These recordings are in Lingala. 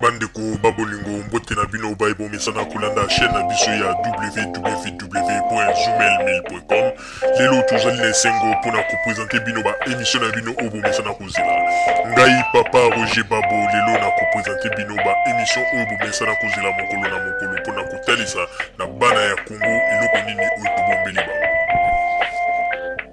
bandeko ba bolingo mbote na bino baye bomesana kolanda chaîne na biso ya www.zumelmail.com lelo tozali na esengo mpo na kopresente bino baemisio na bino oyo bomesana kozela ngai papa roger babo lelo na kopresente bino baemisio oyo bomesana kozela mokolo na mokolo mpo na kotalisa na bana ya kongo eloko nini oyo tobombeli bango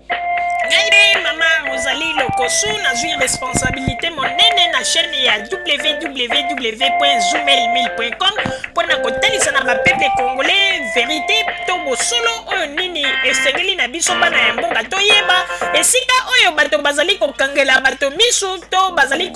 Ngai mama Rosalie Lokosu nazwi responsabilité monene na chaîne ya www.zumel1000.com mpo na kotalisa na bapeple congolais verite to bosolo oyo nini esengeli na biso bana ya mboka toyeba esika oyo bato bazali kokangela bato miso to bazali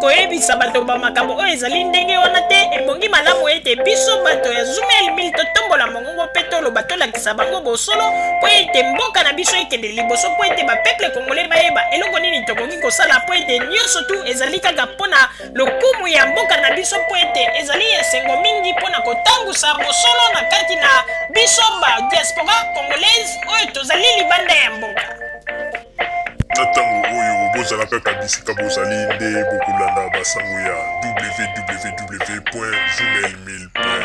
koyebisa bato bamakambo oyo ezali ndenge wana te ebongi malamu ete biso bato ya Zumel 1000 totombola mongo Bongo mpe toloba, tolakisa bango bosolo, mpo ete mboka na biso ekende liboso, mpo ete bapeple kongole bayeba eloko nini tokoki kosala, mpo ete nyonso tu ezali kaka mpo na lokumu ya mboka na biso, mpo ete ezali esengo mingi mpo na kotangusa bosolo na kati na biso ba diaspora congolaise oyo tozali libanda ya mboka. Na ntango oyo bozala kaka bisika bozali nde bokolanda basango ya www.journalmail.com.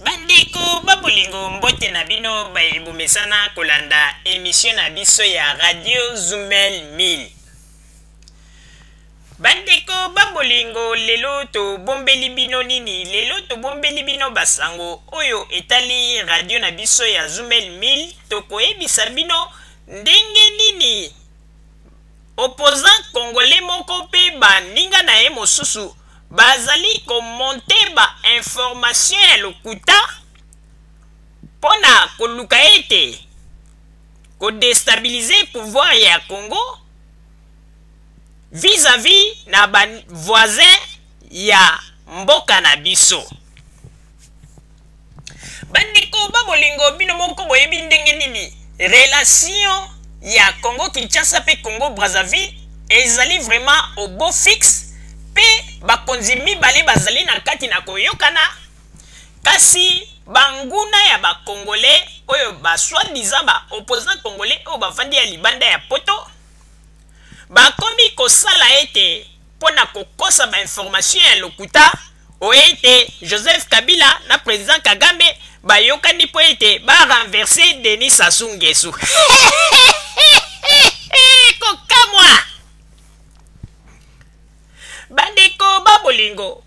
Bandeko ba bolingo mbote na bino baye bomesana kolanda emission na biso ya Radio Zumel 1000. Bandeko ba bolingo, lelo tobombeli bino nini? Lelo tobombeli bino ba sango oyo etali radio na biso ya Zumel 1000. Tokoyebisa bino ndenge nini opposant congolais moko pe ba ninga na ye mosusu bazali komonte ba information ya lokuta mpo na koluka ete kodestabilize pouvoir ya Congo vis à vis na ba voisin ya mboka na biso bandeko ba bolingo bino moko boyebi ndenge nini relation ya congo kinshasa mpe congo brazzaville ezali vraiment au beau fixe mpe bakonzi mibale bazali na kati na koyokana kasi banguna ya bakongole oyo baswadisa baopposant congolais oyo bafandi ya libanda ya poto bakomi kosala ete mpo na kokosa bainformation ya lokuta oyo ete joseph kabila na president kagame bayokani mpo ete barenverse denis sasu ngesu kokamwa bandeko babolingo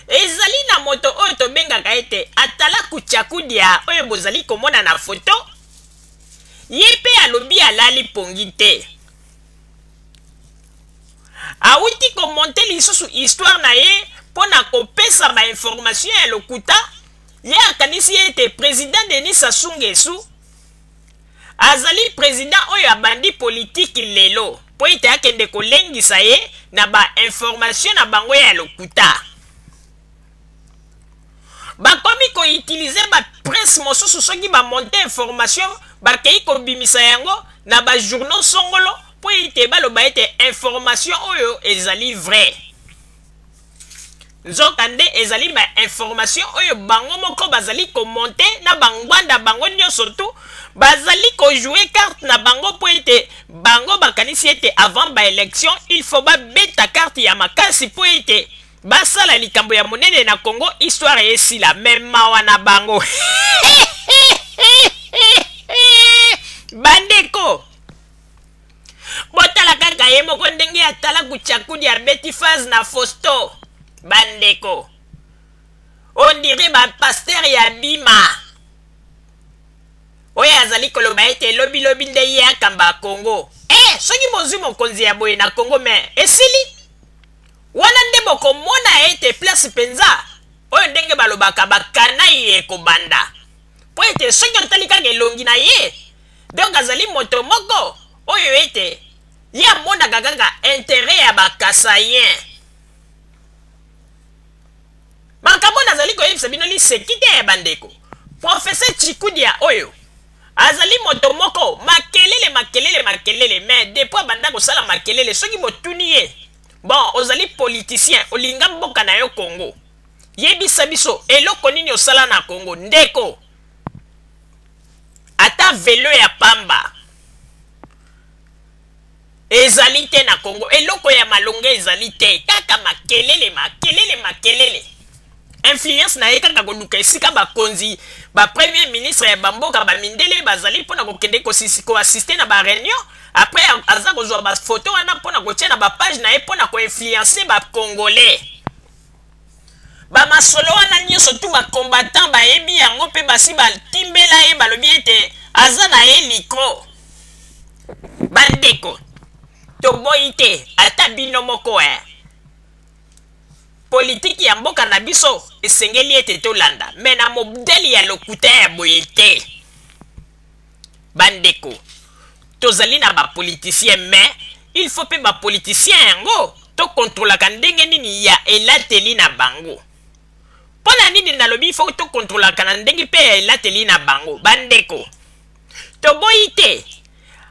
ezali na moto oyo tobengaka ete atalaku chakudia oyo bozali komona na foto ye mpe alobi alali mpongi te awuti komonte lisusu histoire na ye mpo na kopesa bainformation ya lokuta ye akanisi ete president denis sassou ngesu azali president oyo abandi politiki lelo mpo ete akende kolengisa ye na bainformation na bango ya lokuta bakomi ko utiliser ba presse mosusu soki ba monte information bakei kobimisa yango na ba journaux songolo mpo ete baloba ete information oyo ezali vrai nzoka nde ezali ba information oyo bango moko bazali komonte na bangwanda bango nyonso tu bazali kojoue carte na bango mpo ete bango bakanisi ete avant baélection il faut babeta carte ya makasi mpo ete Basala likambo ya monene na Congo, histoire esila, mais mawa na bango. Bandeko, botala kaka ye moko ndenge atala kuchakudi abeti phase na fosto bandeko on dirait bapaster ya bima oyo azali koloba ete lobilobi nde ye akamba congo e eh, soki bozwi mokonzi ya boye na congo me esili Wana nde bokomona ete place mpenza oyo ndenge balobaka bakana ye ekobanda. Mpo ete soki otali kaka elongi na ye, donc azali moto moko oyo ete ye amonaka kaka interet ya ba Kasaiens. Makambo nazali koyebisa bino liseki te bandeko. Professeur Tshikudia oyo azali moto moko makelele makelele makelele mais depuis abanda kosala makelele soki botuni ye Bon ozali politicien olinga mboka na yo Congo yebisa biso eloko nini osala na Congo ndeko ata velo ya pamba ezali te na Congo eloko ya malonga ezali te kaka makelele makelele makelele Influence na ye kaka koluka esika bakonzi, ba premiers ministres ya ba mboka, ba mindele bazali mpo na kokende ko assister na ba reunions, après aza kozwa ba photos wana mpo na kotia na ba pages na ye mpo na ko influencer ba congolais. Ba masolo wana nionso tout ba combattants bayebi yango mpe basi batimbela ye balobi ete aza na ye likro. Bandeko, toboyi te ata bino moko eh. Politiki ya mboka na biso esengeli ete tolanda, mais na modèle ya lokuta ya boye te. Bandeko, tozali na ba politiciens mais il faut pe ba politiciens yango to controlaka ndenge nini ya elateli na bango. Pona nini nalobi il faut to controlaka na ndenge pe ya elateli na bango? Bandeko, Toboyi te,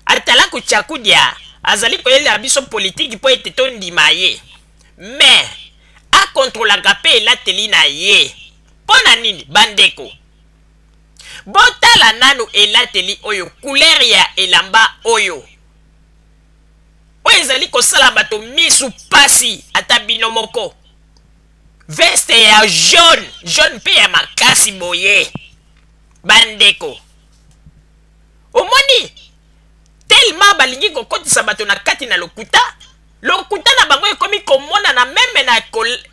Atalaku Tshakudya azali koyelela biso politiki mpo ete tondima ye. Mais, akontrolaka mpe elateli na ye. Mpo na nini? Bandeko, botala nanu elateli oyo, couleur ya elamba oyo. Oyo ezali kosala bato misu pasi, ata bino moko. Veste ya jaune, jaune mpe ya makasi boye. Bandeko, omoni tellement balingi kokotisa bato na kati na lokuta lokuta na bango ekomi komonana meme na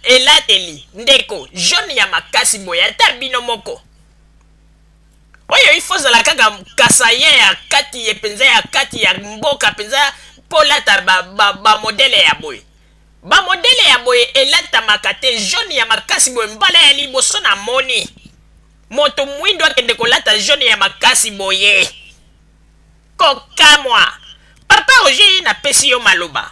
elateli ndeko jeune ya makasi boye ata bino moko oyo ifo ozala kaka kasayen ya kati ye mpenza ya kati ya mboka mpenza mpo olata bamodele ba, ba ya boye bamodele ya boye elatamaka te jeune ya makasi boye mbala ya liboso na moni moto mwindo akende kolata jaune ya makasi boye kokamwa papa roger ye napesi yo maloba